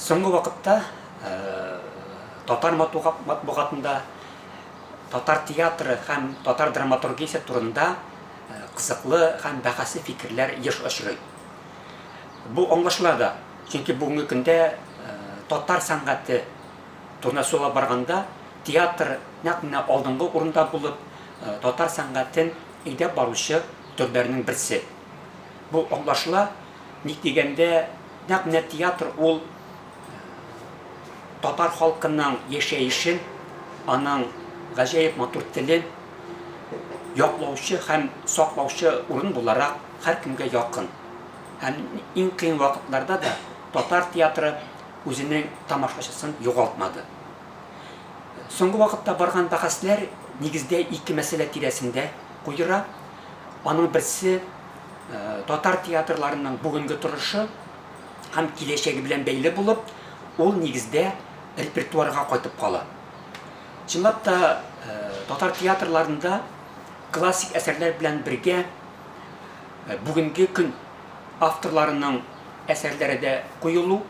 Соңгы вакытта татар матбугатында татар театры һәм татар драматургиясе турында кызыклы һәм бәхәсле фикерләр еш очрый. Бу аңлашыла да, чөнки бүгенге көндә татар сәнгате турында сөйләп барганда, театр нәкъ менә алдынгы урында булып, татар сәнгатен әйдәп баручы төрләрнең берсе. Бу аңлашыла, ник дигәндә, нәкъ менә театр ул татар халкының яшәешен, аның гаҗәеп матур телен яклаучы һәм саклаучы урын буларак һәркемгә якын. Һәм иң кыен вакытларда да татар театры үзенең тамашачысын югалтмады. Соңгы вакытта барган бәхәсләр нигездә ике мәсьәлә тирәсендә куера, Аның берсе, татар театрларының бүгенге торышы һәм киләчәге белән бәйле булып, ул нигездә репертуарга кайтып кала. Чынлап та, татар театрларында классик әсәрләр белән бергә бүгенге көн авторларының әсәрләре дә куелу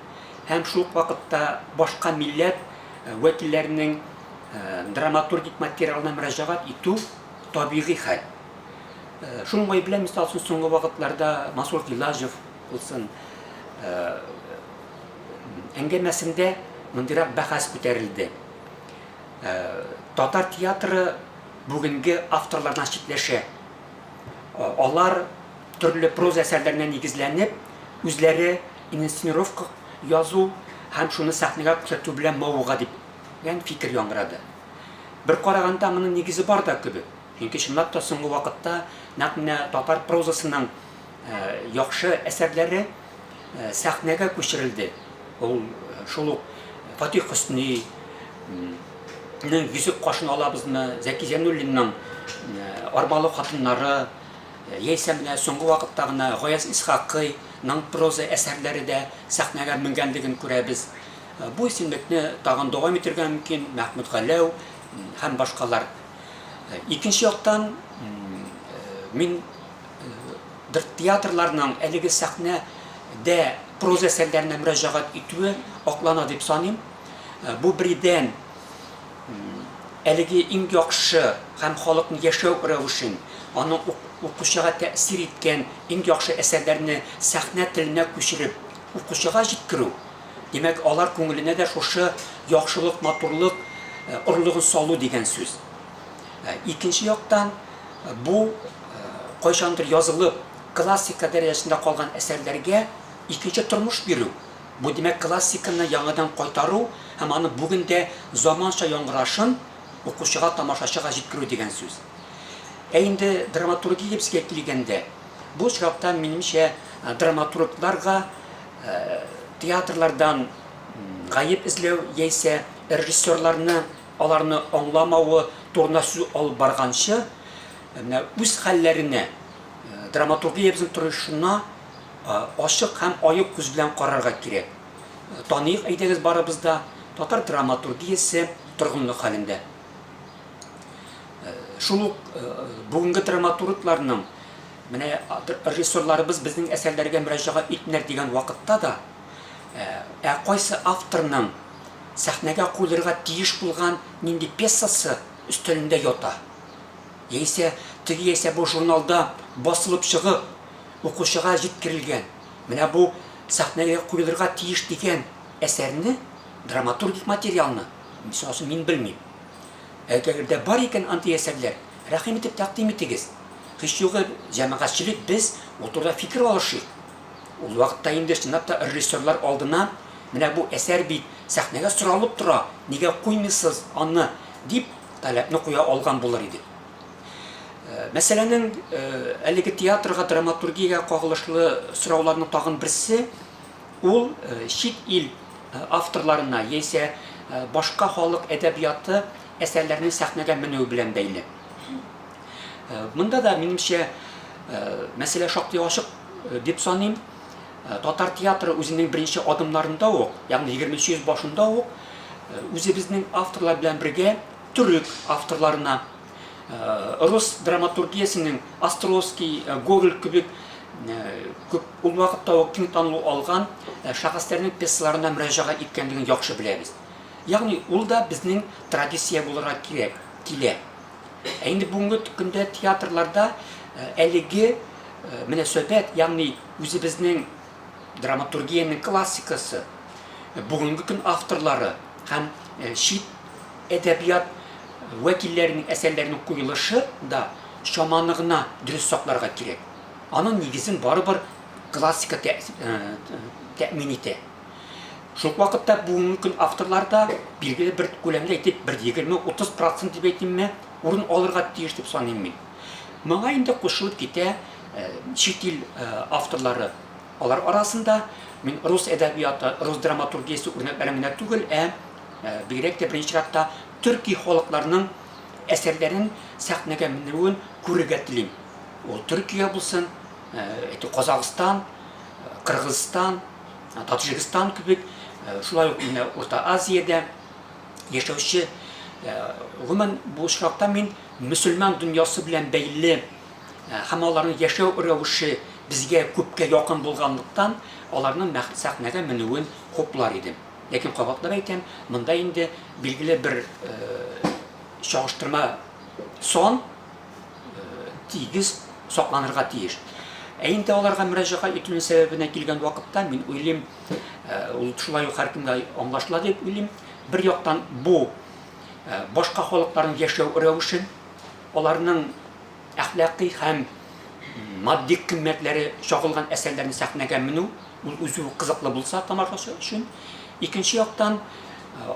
һәм шул ук вакытта башка милләт вәкилләренең драматургик материалына мөрәҗәгать итү, табигый хәл. Шуның гаепле, мисал өчен, соңгы вакытларда Масур Гилажев булсын, әңгәмәсендә мондыйрак бәхәс күтәрелде. Татар театры бүгенге авторлардан читләшә. Алар төрле проза әсәрләренә нигезләнеп, үзләре инсценировка язу һәм шуны сәхнәгә күрсәтү белән мавыга дип, дигән фикер яңгырады. Бер караганда, моның нигезе бар да кебек. Чөнки чынлап та соңгы вакытта нәкъ менә татар прозасының яхшы әсәрләре сәхнәгә күчерелде. Ул шул ук Фатих Хөсни, нең йөзек кашын алабызмы, Зәки Зәнуллинның арбалы хатыннары, яисә менә соңгы вакытта гына Гаяз Исхакыйның проза әсәрләре дә сәхнәгә менгәнлеген күрәбез. Бу исемлекне тагын дәвам итергә мөмкин, Мәхмүт Галәү һәм башкалар. Икенче яктан, мин бер театрларның әлеге сәхнә дә проза әсәрләренә мөрәҗәгать итүе аклана дип саныйм. Бу беридән әлеге иң яхшы һәм халыкның яшәү рәвешен, аның укучыга тәэсир иткән иң яхшы әсәрләрне сәхнә теленә күчереп, укучыга җиткерү. Димәк, алар күңеленә дә шушы яхшылык, матурлык орлыгын салу дигән сүз. Икенче яктан, бу кайчандыр язылып, классика дәрәҗәсендә калган әсәрләргә икенче тормыш бирү. Бу, димәк, классиканы яңадан кайтару һәм аның бүген дә заманча яңгырашын укучыга, тамашачыга җиткерү дигән сүз. Ә инде драматургиябезгә килгәндә, бу очракта, минемчә, драматургларга Театрлардан гаеп эзләү яисә режиссерларны аларны аңламавы турында сүз алып барганчы, менә үз хәлләренә, драматургиябезнең торышына ачык һәм аек күз белән карарга кирәк. Таныйк, әйдәгез барыбыз да, татар драматургиясе торгынлык хәлендә. Шул ук бүгенге драматургларның Менә режиссерларыбыз безнең әсәрләргә мөрәҗәгать итмиләр дигән вакытта да, ә кайсы авторның сәхнәгә куелырга тиеш булган нинди пьесасы өстәлендә ята, яисә теге яисә бу журналда басылып чыгып, укучыга җиткерелгән, менә бу сәхнәгә куелырга тиеш дигән әсәрне, драматургик материалны, мисал өчен, мин белмим. Әгәр дә бар икән андый әсәрләр, Рәхим итеп тәкъдим итегез. Һич югы, җәмәгатьчелек без, ул турыда фикер алышыйк. Ул вакытта инде чынлап та режиссерлар алдына, Менә бу әсәр бит, сәхнәгә соралып тора, нигә куймыйсыз аны? дип, таләпне куя алган булыр идек. Мәсьәләнең әлеге театрга, драматургиягә кагылышлы сорауларның тагын берсе, ул чит ил авторларына яисә башка халык әдәбияты әсәрләрне сәхнәгә менүе белән бәйле. Э, монда да, минемчә, э, мәсьәлә шактый ачык э, дип саныйм. Татар театры үзенең беренче адымнарында ук, ягъни 20 йөз башында ук, үзебезнең авторлар белән бергә төрек авторларына, рус драматургиясенең Островский, Гоголь кебек күп ул вакытта ук киң танылу алган шәхесләрнең пьесаларына мөрәҗәгать иткәнлеген яхшы беләбез. Ягъни ул да безнең традиция булырга кирәк, килә. Ә инде бүгенге көндә театрларда әлеге мөнәсәбәт, ягъни үзебезнең драматургиянең классикасы, бүгенге көн авторлары һәм чит әдәбият вәкилләренең әсәрләренең куелышы да чаманы гына дөрес сакларга кирәк. Аның нигезен барыбер классика тәэмин итә. Шул вакытта бүгенге көн авторларда билгеле бер күләмдә әйтеп, бер 20-30 процент дип әйтимме, урын алырга тиеш дип саныйм мин. Моңа инде кушылып китә чит ил авторлары. Алар арасында мин рус әдәбияты, рус драматургиясе үрнәкләрен генә түгел, ә бигрәк тә беренче чиратта төрки халыкларның әсәрләрен сәхнәгә менүен күрергә телим. Ул Төркия булсын, Казахстан, Кыргызстан, Таджикстан кебек, шулай ук менә Урта Азиядә яшәүче, гомумән бу очракта мин мөселман дөньясы белән бәйле һәм аларның яшәү рәвеше безгә күпкә якын булганлыктан, аларның сәхнәгә менүен хуплар идем. Ләкин кабатлап әйтәм, монда инде билгеле бер чагыштырма сон, тигез сакланырга тиеш. Ә инде аларга мөрәҗәгать итүнең сәбәбенә килгән вакытта, мин уйлыйм, ул шулай ук һәркемгә аңлашыла дип уйлыйм. Бер яктан бу башка халыкларның яшәү рәвешен, аларның әхлакый һәм матди кыйммәтләре чагылган әсәрләрне сәхнәгә менү, ул үзе үк кызыклы булса тамашачы өчен. Икенче яктан,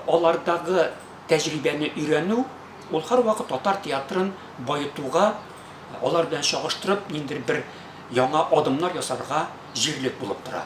алардагы тәҗрибәне өйрәнү, Ул һәрвакыт татар театрын баетуга, алар белән чагыштырып, ниндидер бер яңа адымнар ясарга җирлек булып тора.